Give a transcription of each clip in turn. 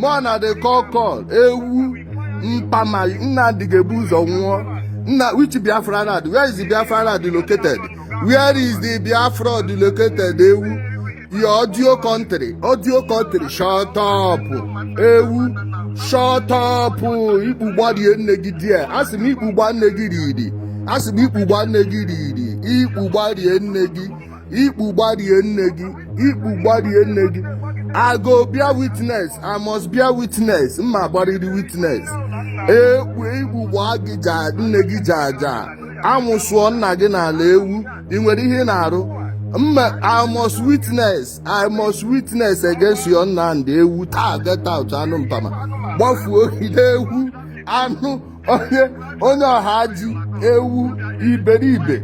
mụ na the kokol ewu mpama nnamdị ga-ebu ụzọ nwụọ nna which biafra land where is the biafra land located where is the biafra land located ewu your audio country audio country shut up ewu shut up ikpu gbarie nne gị there asị m ikpu gbaa nne gị riri asị m ikpu gbaa nne gị riri ikpu gbarie nne gị ikpu gbarie nne gị ikpu gbarie nne gị i go bear witness i must bear witness m ma gbarịrị witness ekpu ikpu gbaa gị ja nne gị ja ja amụsụọ nna gị n'ala ewu ị nwere ihe ị na-arụ mma i must witness i must witness against your nnamdị ewu taa get out anụ mpama gbafuo gị n'ewu anụ onye onye ọha ji ewu iberibe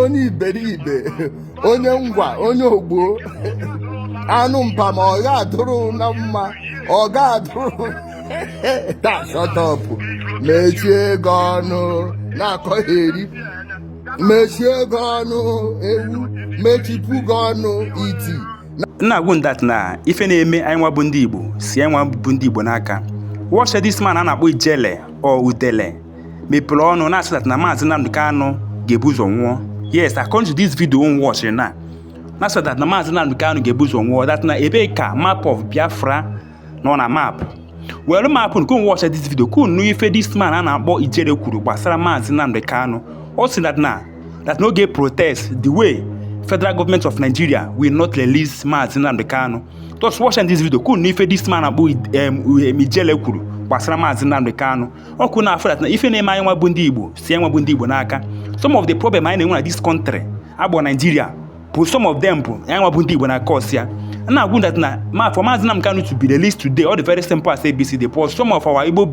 onye iberibe onye ngwa onye ogbo anụ mpama ọ ga-adụrụ unu mma ọ ga-adụrụ taa shut up mechie gị ọnụ na-akọgheri mechie gị ọnụ ewu mechipụ gị ọnụ iti m na-agwa unu that na ife na-eme anyị nwa bụ ndị igbo si anyị nwa bụ ndị igbo n'aka watch this man a na-akpọ ijele or udele mepere ọnụ na-asị that na maazị Nnamdi Kanu ga-ebu ụzọ nwụọ yes according to this video unu watch na na-asị that na maazị Nnamdi Kanu ga-ebu ụzọ nwụọ that na ebee ka map of Biafra nọ na map world map ka unu watch this video ka unu nụ ife this man a na-akpọ ijele kwuru gbasara maazị Nnamdi Kanu ọ sị that na that n'oge protest the way federal government of nigeria will not release maazị Nnamdi Kanu just watch this video ka unu nụ ife this man akpọ ijele kwuru gbasara maazị Nnamdi Kanu ka unu na-afụ that na ife na-eme anyị nwa bụ ndị igbo si anyị nwa bụ ndị igbo n'aka some of the problem anyị na-enwe na this country akpọ nigeria bụ some of them bụ anyị nwa bụ ndị Igbo na cause ya na-agwa unu that na ma for Maazị Nnamdi Kanu to be released today ọ dị very simple as ABCD but some of our Igbo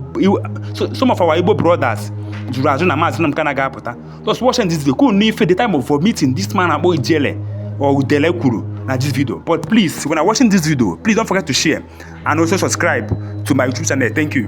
some of our Igbo brothers jụrụ ajụ na Maazị Nnamdi Kanu ga-apụta just watch this video ka unu nụ ife the time of vomiting this man akpọ ijele or udele kwuru na this video but please when I watching this video please don't forget to share and also subscribe to my YouTube channel thank you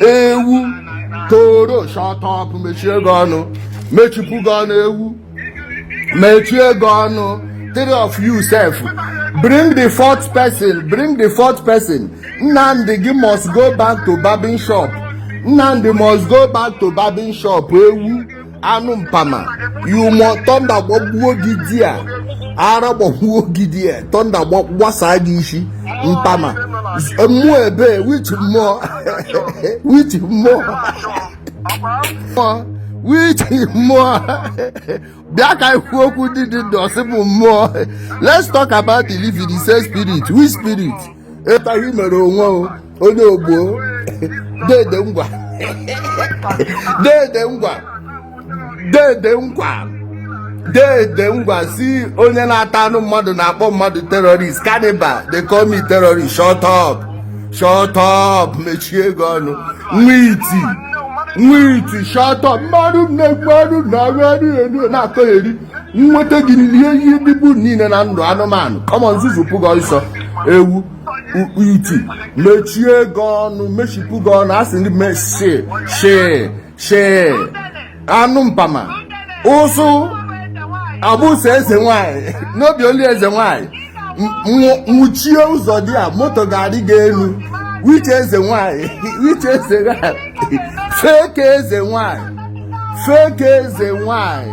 ewu toro shut up mechie gị ọnụ mechipụ gị ọnụ ewu mechie gị ọnụ three of you sef bring the fourth person bring the fourth person nnamdị gị must go back to barbing shop nnamdị must go back to barbing shop ewu anụ mpama you must thunder gbagbuo gị there ara gbagbuo gị there thunder gbasaa gị isi mpama mmụọ ebe which mmụọ which mmụọ which mmụọ bịa ka anyị kwuo okwu ndị dị ndụ ọ sị bụ mmụọ let's talk about the living the same spirit which spirit ịtaghị mere onwe onye ogbo dede ngwa dede ngwa dede ngwa dede ngwa sị onye na-ata anụ mmadụ na-akpọ mmadụ terrorist cannibal they call me terrorist shut up shut up mechie gị ọnụ nwa iti nwa iti shut up mmadụ na-egbu anụ na-agụ anụ na-akọgheri nweta gị rie ihe dịbu niile na ndụ anụmanụ come on nzuzu pụga ọsọ ewu iti mechie gị ọnụ mechipụ gị ọnụ a sị ndị mesi shi shi anụ mpama ụsụ abụsụ eze nwanyị n'obi olu eze nwanyị nwụchie ụzọ there moto ga-arị gị elu which eze nwanyị which eze nwanyị fake eze nwanyị fake eze nwanyị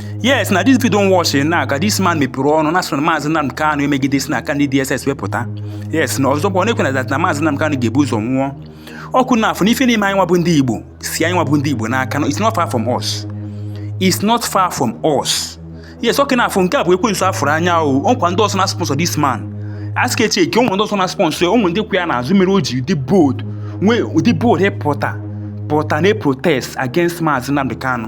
yes na this video don watch na ka this man mepere ọnụ na-asị na maazị Nnamdi Kanu emegide si n'aka ndị DSS wee pụta yes na ọzọ bụ ọ na-ekwu na na maazị Nnamdi Kanu ga-ebu ụzọ nwụọ ọkwa ụnụ afụ n'ife na-eme anyị nwa bụ ndị Igbo si anyị nwa bụ ndị Igbo n'aka no it's not far from us it's not far from us yes ọkwa ụnụ afụ nke a bụ ekwensu a fụrụ anya o ọkwa ndị ọzọ na-sponsor this man a sị ka e checkie ụmụ ndị ọzọ na-sponsor ụmụ ndị kwụ ya n'azụ mere o ji dị bold nwee ụdị bold pụta pụta na protest against maazị Nnamdi Kanu